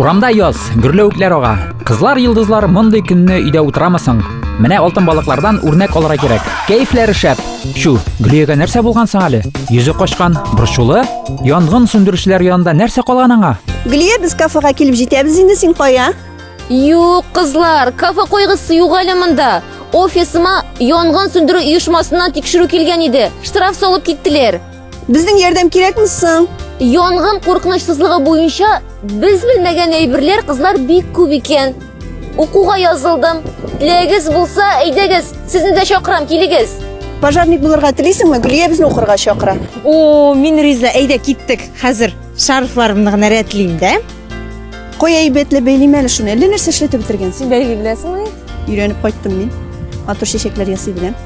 Урамда яз, гөрләвекләр ага. Кызлар йолдызлар мондый көнне өйдә утырамысың? Менә алтын балыклардан үрнәк алырга кирәк. Кәефләре шәп. Чу, Гөлиягә нәрсә булган соң әле? Йөзе качкан, борчулы? Янгын сүндерүчеләр янында нәрсә калган аңа? Гөлия, без кафега килеп җитәбез инде, син кая? Юк, кызлар, кафе койгысы юк әле монда. Офисыма янгын сүндерү оешмасыннан тикшерү килгән иде. Штраф салып киттеләр. Безнең ярдәм кирәкме соң? Янгын куркынычсызлыгы буенча без белмәгән әйберләр кызлар бик күп икән. Укуга язылдым. Теләгегез булса, әйдәгез, сезне дә чакырам, килегез. Пожарник булырга телисеңме? Гөлия безне укырга чакыра. О, мин риза, әйдә киттек. Хәзер шарфларымны гына рәтлим дә. Кой әйбәтле бәйлим әле шуны. Әллә нәрсә эшләтеп бетергәнсең. Бәйли беләсеңме? Өйрәнеп кайттым мин. Матур чәчәкләр ясый беләм.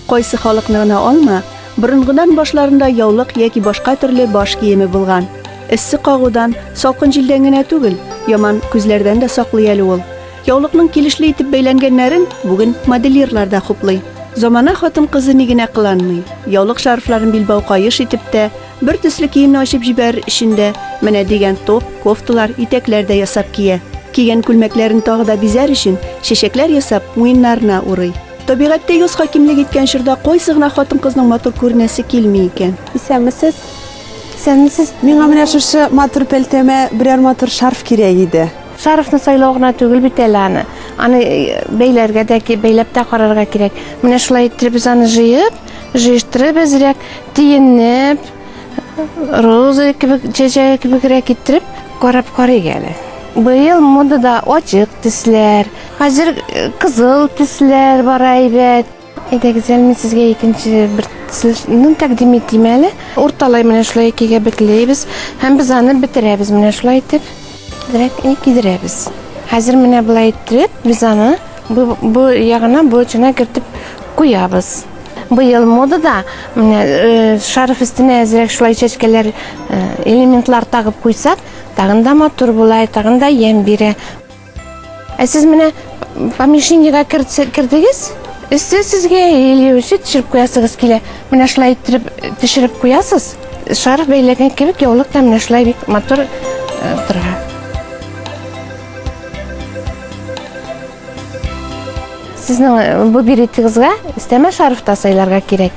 Кайсы халыкны гына алма, борынгыдан башларында яулык яки башка төрле баш киеме булган. Эссе кагудан, салкын җилдән генә түгел, яман күзләрдән дә саклый әле ул. Яулыкның килешле итеп бәйләнгәннәрен бүген модельерлар да хуплый. Замана хатын-кызы ни генә кыланмый. Яулык шарфларын билбау каеш итеп тә, бер төсле киемне ачып җибәрер өчен дә, менә дигән топ, кофталар, итәкләр дә ясап кия. Кигән күлмәкләрен тагы да бизәр өчен, чәчәкләр ясап, муеннарына урый. Табигатьтә йоз хакимлек иткән чорда кайсы гына хатын-кызның матур күренәсе килми икән? Исәнмесез. Исәнмесез. Миңа менә шушы матур пәлтәмә берәр матур шарф кирәк иде. Шарфны сайлау гына түгел бит әле аны. Аны бәйләргә дә, бәйләп тә карарга кирәк. Менә шулай иттереп без аны җыеп, җыештырып әзрәк, тиенеп, роза кебек чәчәге кебегрәк иттереп карап карыйк әле быел модада ачык төсләр хәзер э, кызыл төсләр бара әйбәт әйдәгез әле мин сезгә икенче бер төсне тәкъдим итим әле урталай менә шулай икегә бекләйбез һәм без аны бетерәбез менә шулай итеп Дерәк и кидерәбез. Хәзер менә болай иттереп, без аны бу, бу ягына бу очына кертеп куябыз. Быел модада менә э, шарф өстенә әзрәк шулай чәчкәләр э, элементлар тагып куйсак, тагын да матур була, тагын да ямь бирә. Ә сез менә помещениегә кердегез, өсте сезгә или үзе төшереп куясыгыз килә. Менә шулай иттереп төшереп куясыз. Шарф бәйләгән кебек яулык та менә шулай бик матур тора. Сезнең бу беретегезгә өстәмә шарф та сайларга кирәк.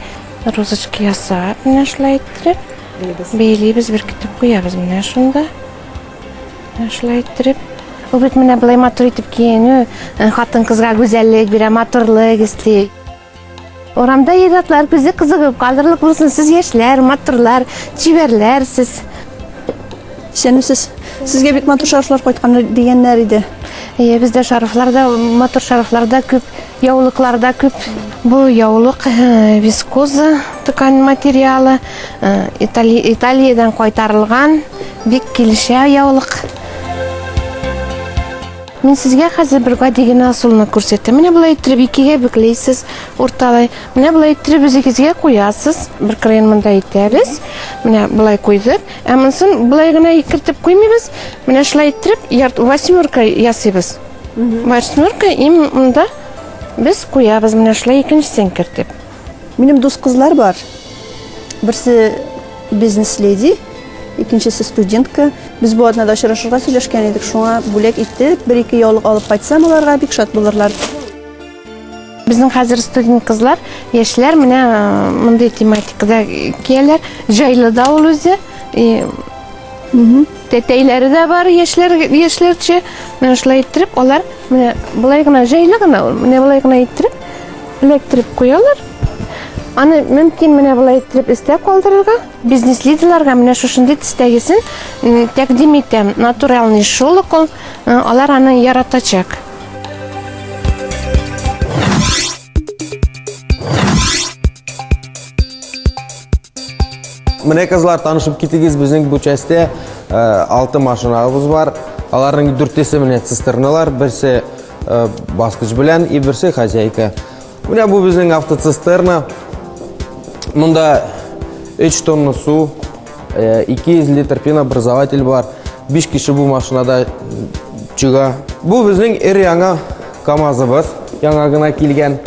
Розочка ясап, менә шулай иттереп бәйлибез, беркетеп куябыз менә шунда. Шулай иттереп, ул бит менә былай матур итеп киенү, э, хатын-кызга гүзәллек бирә, матурлык эсти. Урамда ир-атлар күзе кызыгып калырлык булсын, сез яшьләр, матурлар, чибәрләр сез. Исәнмесез. Сезгә бик матур шарфлар кайткан дигәннәр иде. Әйе, бездә шарфлар да, матур шарфлар да күп, яулыклар да күп. Бу яулык э, вискоза ткань материалы, э, Итали- Италиядән кайтарылган. Бик килешә яулык. Мин сезгә хәзер бер гади генә ысулны күрсәтәм. Менә болай иттереп икегә бөкләйсез, урталай. Менә болай иттереп үзегезгә куясыз. Бер краен монда итәбез. Менә болай куйдык. Ә монысын болай гына кертеп куймыйбыз. Менә шулай иттереп ярт восьмерка ясыйбыз. Восьмерка им монда без куябыз менә шулай икенчесен кертеп. Минем дус кызлар бар. Берсе бизнес леди, икенчесе студентка. Без бу атнада очрашырга сөйләшкән идек, шуңа бүләк итеп, бер-ике яулык алып кайтсам, аларга бик шат булырлар. Безнең хәзер студент кызлар, яшьләр менә э, мондый тематикада кияләр. Җайлы да ул үзе. Тәтәйләре дә бар, яшьләр, яшьләрчә. Менә шулай иттереп, алар менә болай гына җайлы гына ул. Менә болай гына иттереп, эләктереп куялар. Аны мөмкин менә болай иттереп өстә калдырырга. Бизнес лидерларга менә шушындый төстәгесен тәкъдим итәм. Натуральный шолок ул. Алар аны яратачак. Менә кызлар танышып китегез, безнең бу частьтә 6 машинабыз бар. Аларның дүртесе менә цистерналар, берсе баскыч белән и берсе хозяйка. Менә бу безнең автоцистерна. Монда 3 тонна су, 200 литр пенообразователь бар. 5 кеше бу машинада чыга. Бу безнең эр яңа КАМАЗыбыз, яңа гына килгән.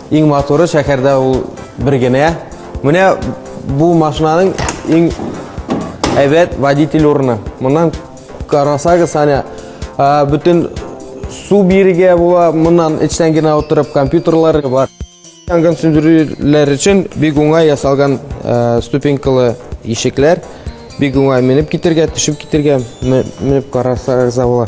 Иң матуры шәһәрдә ул бер генә. Менә бу машинаның иң әйбәт водитель урыны. Моннан карасагыз, әнә бөтен су бирегә була, моннан эчтән генә утырып компьютерлар бар. Янгын сүндерүләр өчен бик уңай ясалган ступенькалы ишекләр. Бик уңай менеп китергә, төшеп китергә, менеп карасагыз була.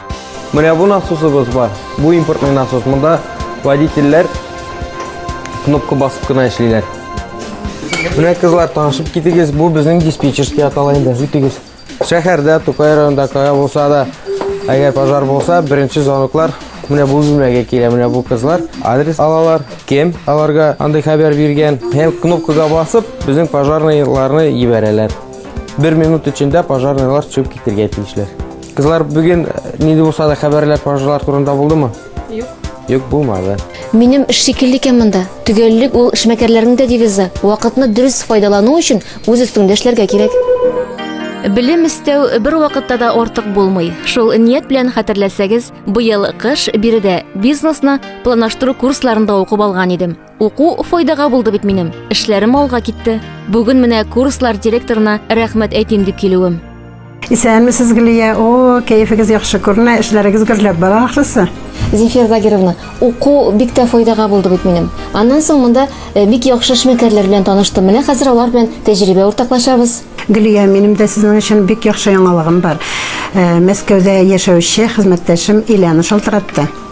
Менә бу насосыбыз бар. Бу импортный насос. Монда водительләр кнопка басып кына эшлиләр. Менә кызлар танышып китегез. Бу безнең диспетчерский атала инде. Үтегез. Шәһәрдә, Тукай районында кая булса да, әгәр пожар булса, беренче звоноклар менә бу бүлмәгә килә. Менә бу кызлар адрес алалар, кем аларга андый хәбәр биргән. Һәм кнопкага басып, безнең пожарныйларны ебәрәләр. Бер минут эчендә пожарныйлар чыгып китергә тиешләр. Кызлар, бүген нинди булса да хәбәрләр, пожарлар турында булдымы? Юк. Юк, булмады. Минем эш шикелле икән монда. Төгәллек ул эшмәкәрләрнең дә девизы. Вакытны дөрес файдалану өчен үз өстеңдә эшләргә кирәк. Белем истәү бер вакытта да артык булмый. Шул ният белән хәтерләсәгез, быел кыш биредә бизнесны планлаштыру курсларында укып алган идем. Уку файдага булды бит минем. Эшләрем алга китте. Бүген менә курслар директорына рәхмәт әйтим дип килүем. Исәнмесез, Гөлия. О, кәефегез яхшы күренә, эшләрегез гөрләп бара ахрысы. Зефир Загировна, уку бик тә файдага булды бит минем. Аннан соң монда э, бик яхшы эшмәкәрләр белән таныштым. Менә хәзер алар белән тәҗрибә уртаклашабыз. Гөлия, минем дә сезнең өчен бик яхшы яңалыгым бар. Э, Мәскәүдә яшәүче хезмәттәшем Иляна шалтыратты.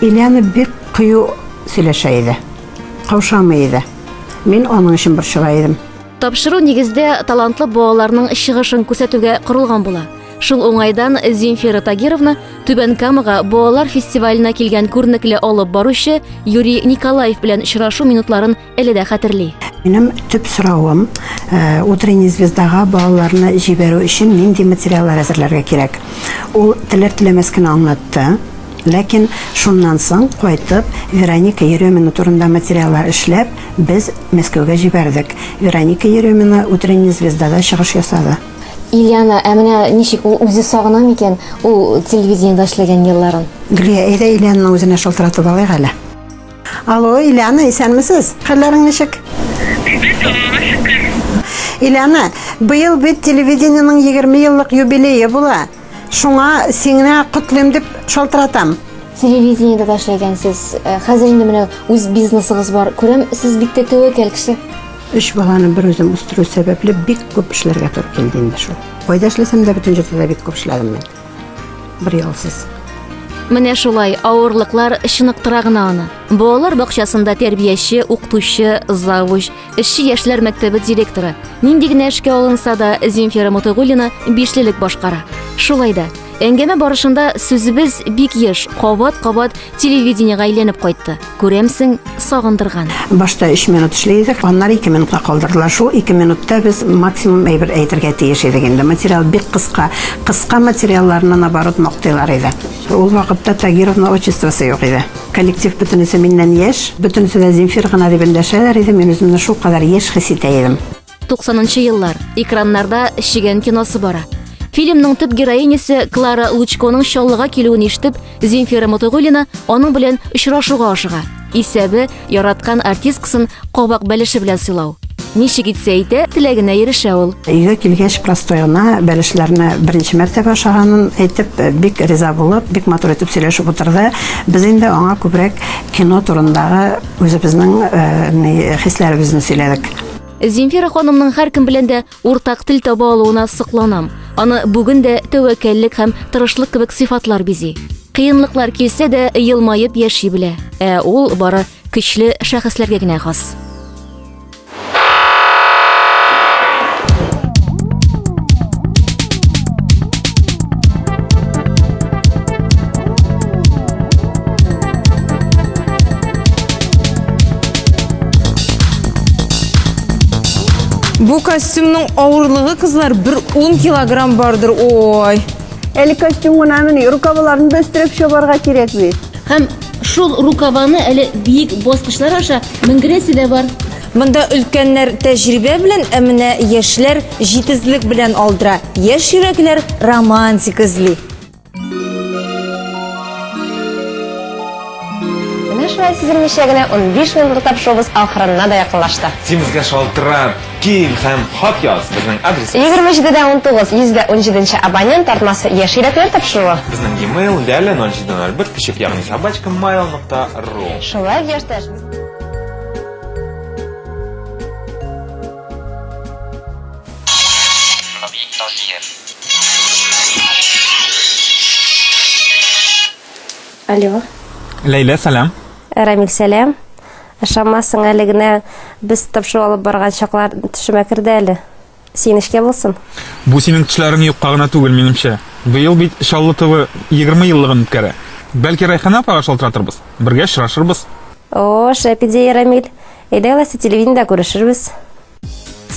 Ильяна бик кыю сөйләшә иде. Каушамый иде. Мин аның өчен борчыла идем. Тапшыру нигездә талантлы балаларның чыгышын күрсәтүгә корылган була. Шул уңайдан Земфира Тагировна Түбән Камага балалар фестиваленә килгән күренекле алып баручы Юрий Николаев белән очрашу минутларын Әле дә хәтерли. Минем төп соравым, э, утренний звездага балаларны җибәрү өчен нинди материаллар әзерләргә кирәк? Ул теләр теләмәс кенә аңлатты. Ләкин шуннан соң кайтып Вероника Еремина турында материаллар эшләп, без Мәскәүгә җибәрдек. Вероника Еремина утренний звездада чыгыш ясады. Ильяна, ә менә ничек ул үзе сагына микән ул телевидениедә эшләгән елларын? Гөлия, әйдә Ильянаны үзенә шалтыратып алыйк әле. Алло, Иляна, исәнмесез? Хәлләрең ничек? Бит аллага шөкер. Иляна, быел бит телевидениенең 20 еллык юбилее була. Шуңа сиңа котлыйм дип шалтыратам. Телевидениедә дә эшләгәнсез. Э, Хәзер инде менә үз бизнесыгыз бар. Күрәм, сез бик тә тәвәккәл кеше. Өч баланы бер үзем үстерү сәбәпле бик күп эшләргә туры килде инде шул. Кайда эшләсәм дә бөтен җирдә дә бик күп эшләдем мин. Брелсис. Менә шулай авырлыклар чыныктыра гына аны. Балалар бакчасында тәрбияче, укытучы, завуч, эшче яшьләр мәктәбе директоры. Нинди генә эшкә алынса да, Земфира Мотыгулина бишлелек башкара. Шулай да, әңгәмә барышында сүзебез бик еш, кабат-кабат Телевидениега әйләнеп кайтты. Күрәмсең, сагындырган. Башта 3 минут эшли идек, аннары 2 минутка калдырдылар. Шул 2 минутта без максимум әйбер әйтергә тиеш идек инде. Материал бик кыска. Кыска материалларны наоборот мактыйлар иде. Ул вакытта Тагировна отчествосы юк иде. Коллектив бөтенесе миннән яшь, бөтенесе дә Земфир гына дип эндәшәләр иде. Мин үземне шулкадәр яшь хис итә идем. 90-нчы еллар. Экраннарда Шигән киносы бара. Фильмның төп героинясе Клара Лучконың чаллыга килүен ишетеп, Земфира Мотыгулина аның белән очрашуга ашыга. Исәбе, яраткан артисткасын кабак бәлеше белән сыйлау. Ничек итсә итә, теләгенә ирешә ул. Өйгә килгәч, простой гына бәлешләрне беренче мәртәбә ашаганын әйтеп, бик риза булып, бик матур итеп сөйләшеп утырды. Без инде аңа күбрәк кино турындагы үзебезнең э, ни, хисләребезне сөйләдек. Земфира ханымның һәркем белән дә уртак тел таба алуына сокланам. Аны бүген дә тәвәккәллек һәм тырышлык кебек сыйфатлар бизи. Кыенлыклар килсә дә, елмаеп яши белә. Ә ул бары көчле шәхесләргә генә хас. Бу костюмның авырлыгы кызлар бер 10 килограмм бардыр. Ой. Әле костюм гына мени, рукавларын да өстерәп чабарга кирәк бит. Һәм шул рукаваны әле биек баскычлар аша менгерәсе дә бар. Монда өлкәннәр тәҗрибә белән, ә менә яшьләр җитезлек белән алдыра. Яшь йөрәкләр романтика эзли. Менә шулай сизелмичә генә унбиш минут утап шоубыз ахырына да якынлашты. Симезгә шалтырат, кил һәм хат яз, безнең адрес. Егерме җиде дә унтугыз, йөз дә унҗиде нче абонент тартмасы, Яшь йөрәкләр тапшыруы. Безнең e-mail, лялә ноль җиде ноль бер печек ягъни собачка mail нокта ру. Шулай ук яшьтәш. Равил Таҗиев. Алло. Ләйлә, сәлам. Рамил, сәлам. Ышанмассың, әле генә без тапшыру алып барган чаклар төшемә керде әле. Син эшкә булсын. Бу синең төшләрең юкка гына түгел, минемчә. Быел бит Чаллы ТВ 20 еллыгын үткәрә. Бәлки Райхана апага шалтыратырбыз, бергә очрашырбыз. О, шәп идея, Рамил. Әйдә ләсе телевидениедә күрешербез.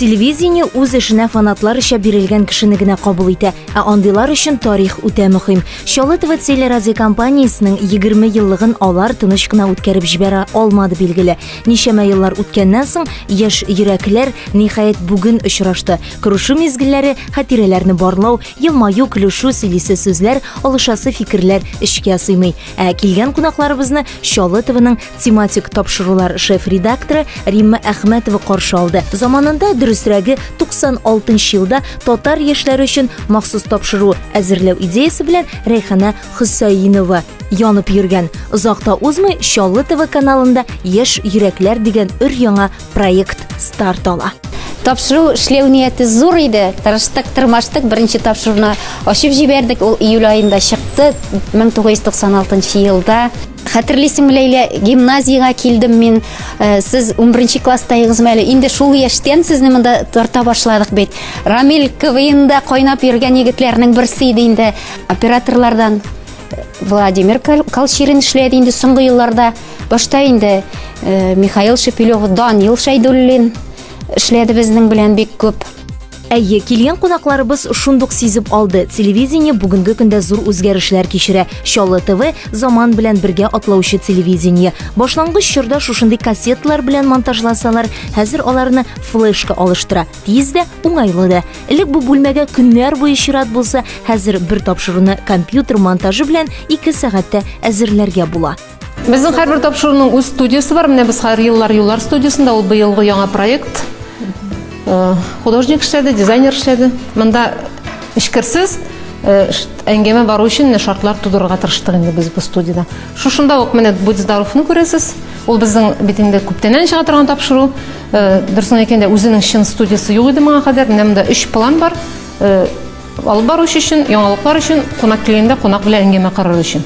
Телевидение үз эшенә фанатлар эчә бирелгән кешене генә кабул итә, ә андыйлар өчен тарих үтә мөһим. Чаллы ТВ телерадиокомпаниясенең 20 еллыгын алар тыныч кына үткәреп җибәрә алмады билгеле. Ничәмә еллар үткәннән соң яшь йөрәкләр ниһаять бүген очрашты. Күрешу мизгелләре, хатирәләрне барлау, елмаю, көлешү, сөйлисе сүзләр, алышасы фикерләр эчкә сыймый. Ә килгән кунакларыбызны Чаллы ТВның тематик тапшырулар шеф-редакторы Римма Әхмәтова каршы алды. Заманында дөресрәге 96 елда татар яшьләре өчен махсус тапшыру әзерләү идеясе белән Рәйхана Хөсәинова янып йөргән. Озакта узмый Чаллы ТВ каналында Яшь йөрәкләр дигән өр яңа проект старт ала. Тапшыру эшләү нияте зур иде. Тырыштык, тырмаштык, беренче тапшыруны ачып җибәрдек. Ул июль аенда чыкты, 1996 елда. Хәтерлисеңме, Ләйлә, гимназиягә килдем мин. Э, сез 11 класстайгызмы әле? Инде шул яшьтән сезне монда тарта башладык бит. Рамил КВНда кайнап йөргән егетләрнең берсе иде инде. Операторлардан э, Владимир Колчирин эшләде инде соңгы елларда. Башта инде э, Михаил Шепелев, Данил Шәйдуллин эшләде безнең белән бик күп. Әйе, килгән кунакларыбыз шундук сизеп алды, телевидение бүгенге көндә зур үзгәрешләр кичерә. Чаллы ТВ заман белән бергә атлаучы телевидение. Башлангыч чорда шушындый кассеталар белән монтажласалар, хәзер аларны флешка алыштыра. Тиз дә, уңайлы да. Элек бу бүлмәгә көннәр буе чират булса, хәзер бер тапшыруны компьютер монтажы белән 2 сәгатьтә әзерләргә була. Безнең һәрбер тапшыруның үз студиясе бар. Менә без һәр еллар юллар студиясендә ул быелгы яңа проект. Э, художник эшләде, дизайнер эшләде. Монда эчкерсез э, әңгәмә бару өчен менә шартлар тудырырга тырыштык инде без бу студияда. Шушында ук менә Будь здоровны күрәсез. Ул безнең бит инде күптәннән чыга торган тапшыру. Э, дөресен әйткәндә, үзенең чын студиясе юк иде моңа кадәр. Менә монда 3 план бар. Алып баручы өчен, яңалыклар өчен, кунак килгәндә кунак белән әңгәмә корыр өчен.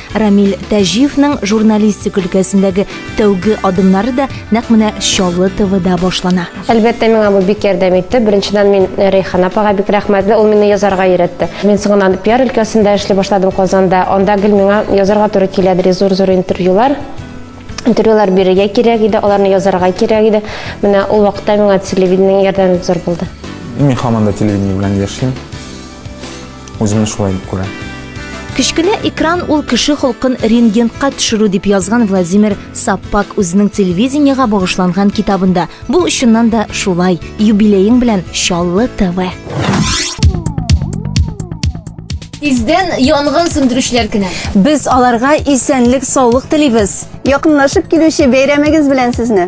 Рамил Тәҗиевның журналистик өлкәсендәге тәүге адымнары да нәкъ менә Чаллы ТВда башлана. Әлбәттә, миңа бу бик ярдәм итте. Беренчедән, мин Рәйхан апага бик рәхмәтле, ул мине язарга өйрәтте. Мин соңыннан пиар өлкәсендә эшли башладым Казанда. Анда гел миңа язарга туры килә иде, зур-зур интервьюлар. Интервьюлар бирергә кирәк иде, аларны язарга кирәк иде. Менә ул вакытта миңа телевидениенең ярдәме бик зур булды. Мин һаман да телевидение белән яшим. Үземне шулай дип күрәм. Кечкенә экран ул кеше холкын рентгентка төшерү дип язган Владимир Саппак үзенең телевидениега багышланган китабында. Бу очыннан да шулай. Юбилеең белән Чаллы ТВ. Тиздән янгын сүндерүчеләр көне. Без аларга исәнлек, саулык телибез. Якынлашып килүче бәйрәмегез белән сезне.